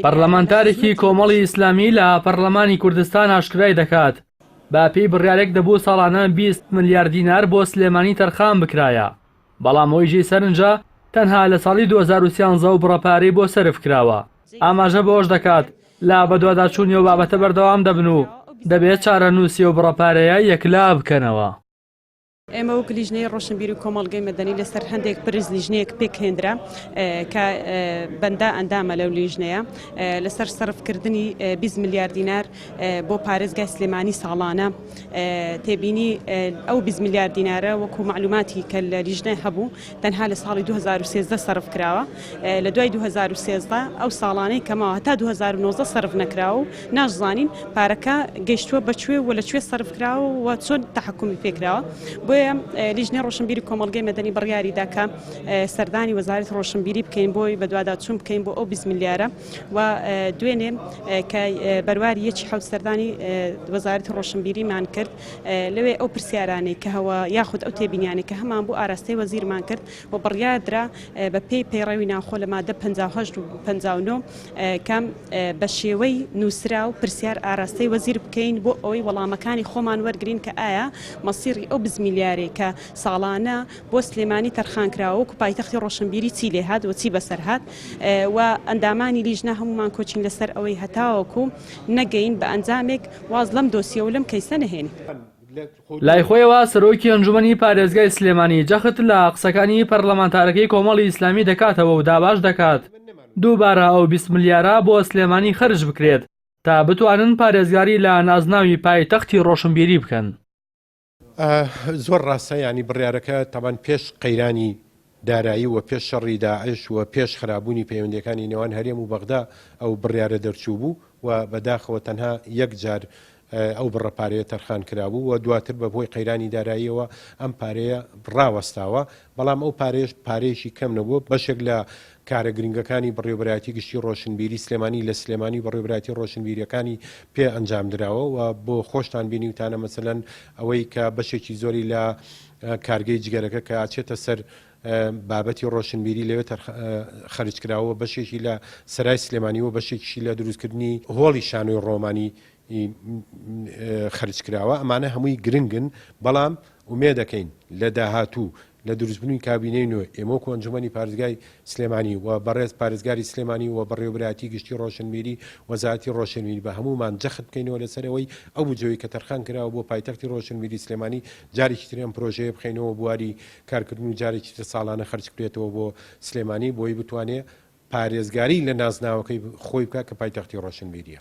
پەرلەمانتارێکی کۆمەڵی ئیسلامی لە پەرلەمانی کوردستان ئاشکرای دەکات، بەپێی بڕیارێک دەبوو ساڵانە بیست ملیار دینار بۆ سلێمانی تەرخان بکرایە، بەڵام ئۆیژەی سەرنجە تەنها لە ساڵی دوو هەزار و سیانزە و بڕە پارەی بۆ سەرف کراوە. ئاماژە بەوەش دەکات، لە بەدواداچوونی ئەو بابەتە بەردەوام دەبن و دەبێت چارەنووسی ئەو بڕە پارەیە یەکلابکەنەوە. ئێمە وەک لیژنەی ڕۆشنبیر و کۆمەڵگەی مەدەنی لەسەر هەندێک پرس لیژنەیەک پێکهێنرا کە بەندا ئەندامە لەو لیژنەیە لەسەر سەرفکردنی 20 میلیارد دینار بۆ پارێزگای سلێمانی ساڵانە تێبینی ئەو 20 میلیارد دینارە وەکو معلوماتی کە لە لیژنە هەبوو تەنها لە ساڵی دوو هەزار و سێزدە سەرف کراوە لە دوای دوو هەزار و سێزدە ئەو ساڵانەی کە ماوە هەتا دوو هەزار و نۆزدە سەرف نەکراوە و ناشزانین پارەکە گەیشتووە بە کوێ و لە کوێ سەرف کراوە و چۆن تەحکومی پێ کراوە بۆیە لیژنەی ڕۆشنبیری کۆمەڵگەی مەدەنی بڕیاری دا کە سەردانی وەزارەتی ڕۆشنبیری بکەین بۆی بەدواداچوون بکەین بۆ ئەو بیست ملیارە و دوێنێ کە بەرواری یەکی حەوت سەردانی وەزارەتی ڕۆشنبیریمان کرد لەوێ ئەو پرسیارانەی کە هەوە یاخود ئەو تێبینیانەی کە هەمان بوو ئاراستەی وەزیرمان کرد و بڕیاردرا بەپێی پەیڕەوی ناوخۆ لە مادە 58 و 59 کەم بە شێوەی نووسراو پرسیار ئاراستەی وەزیر بکەین بۆ ئەوەی وەڵامەکانی خۆمان وەرگین کە ئایا مەسیری ئەو بزمیلیارێک کە ساڵانە بۆ سلێمانی تەرخان کراوە و پایتەختی ڕۆشنبیری چی لێهات و چی بەسەرهات و ئەندامانی لیژنە هەمومان کۆچین لەسەر ئەوەی هەتاوەکو نەگەین بە ئەنجامێک واز لەم دۆسیە و لەم کەیسە نەهێنین. لای خۆیەوە سەرۆکی ئەنجومەنی پارێزگای سلێمانی جەخت لە قسەکانی پەرلەمانتارەکەی کۆمەڵی ئیسلامی دەکاتەوە و داباش دەکات دووبارە ئەو بیست ملیارە بۆ سلێمانی خەرج بکرێت تا بتوانن پارێزگاری لە نازناوی پایتەختی ڕۆشنبیری بکەن. زۆر ڕاستە یانی بڕیارەکە تەبان پێش قەیرانی دارایی و پێش شەڕی داعش و پێش خرابوونی پەیوەندەکانی نێوان هەرێم و بەغدا ئەو بڕیارە دەرچوو بوو و بەداخەوە تەنها یەک جار ئەو بڕە پارەیە تەرخان کرابوو و دواتر بە بۆی قەیرانی داراییەوە ئەم پارەیە ڕاوەستاوە بەڵام ئەو پارێش پارێکی کەم نەبوو بەشێک لە کارە گرنگەکانی بەڕێوەبەرایەتی گشتی ڕۆشنبیری سلێمانی لە سلێمانی بەڕێوەبەرایەتی ڕۆشنبیریەکانی پێ ئەنجام دراوە و بۆ خۆشتان بینیوتانە مەسەلەن ئەوەی کە بەشێکی زۆری لە کارگەی جگەرەکە کە ئەچێتە سەر بابەتی ڕۆشنبیری لەوێ خەرج کراوە بەشێکی لە سەرای سلێمانی و بەشێکیشی لە دروستکردنی هۆڵی شانۆی ڕۆمانی ی خەرجکراوە، ئەمانە هەمووی گرنگن، بەڵام ئومێدەکەین لە داهاتوو لە دروستبوونی کابینەی نوێ، ئێمە وەکو ئەنجومەنی پارێزگای سلێمانی و بەڕێز پارێزگاری سلێمانی و بەڕێوەبەرایەتی گشتی ڕۆشنبیری وەزارەتی ڕۆشنبیری بە هەموومان جەخت بکەینەوە لەسەر ئەوەی ئەو بودجەی کە تەرخان کراوە بۆ پایتەختی ڕۆشنبیری سلێمانی جارێکی تر ئەم پرۆژەیە بخەینەوە بواری کارکردن و جارێکی تر ساڵانە خەرج بکرێتەوە بۆ سلێمانی بۆی بتوانێت پارێزگاری لە نازناوەکەی خۆی بکات کە پایتەختی ڕۆشنبیرییە.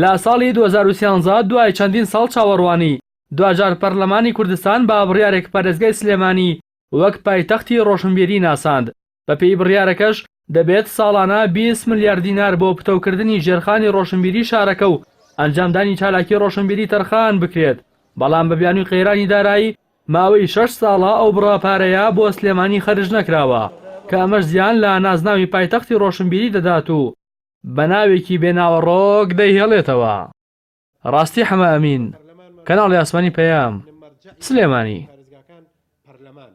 لە ساڵی دوو هەزار و سیانزە دوای چەندین ساڵ چاوەڕوانی، دواجار پەرلەمانی کوردستان بە بڕیارێک پارێزگای سلێمانی وەک پایتەختی ڕۆشنبیری ناساند، بەپێی بڕیارەکەش دەبێت ساڵانە بیست ملیار دینار بۆ پتەوکردنی ژێرخانی ڕۆشنبیری شارەکە و ئەنجامدانی چالاکی ڕۆشنبیری تەرخان بکرێت، بەڵام بە بیانووی قەیرانی دارایی ماوەی شەش ساڵە ئەو بڕە پارەیە بۆ سلێمانی خەرج نەکراوە، کە ئەمەش زیان لە نازناوی پایتەختی ڕۆشنبیری دەدات و بە ناوێکی بێ ناوەڕۆک دەیهێڵێتەوە. ڕاستی حەمە ئەمین، کەناڵی ئاسمانی پەیام، سلێمانی.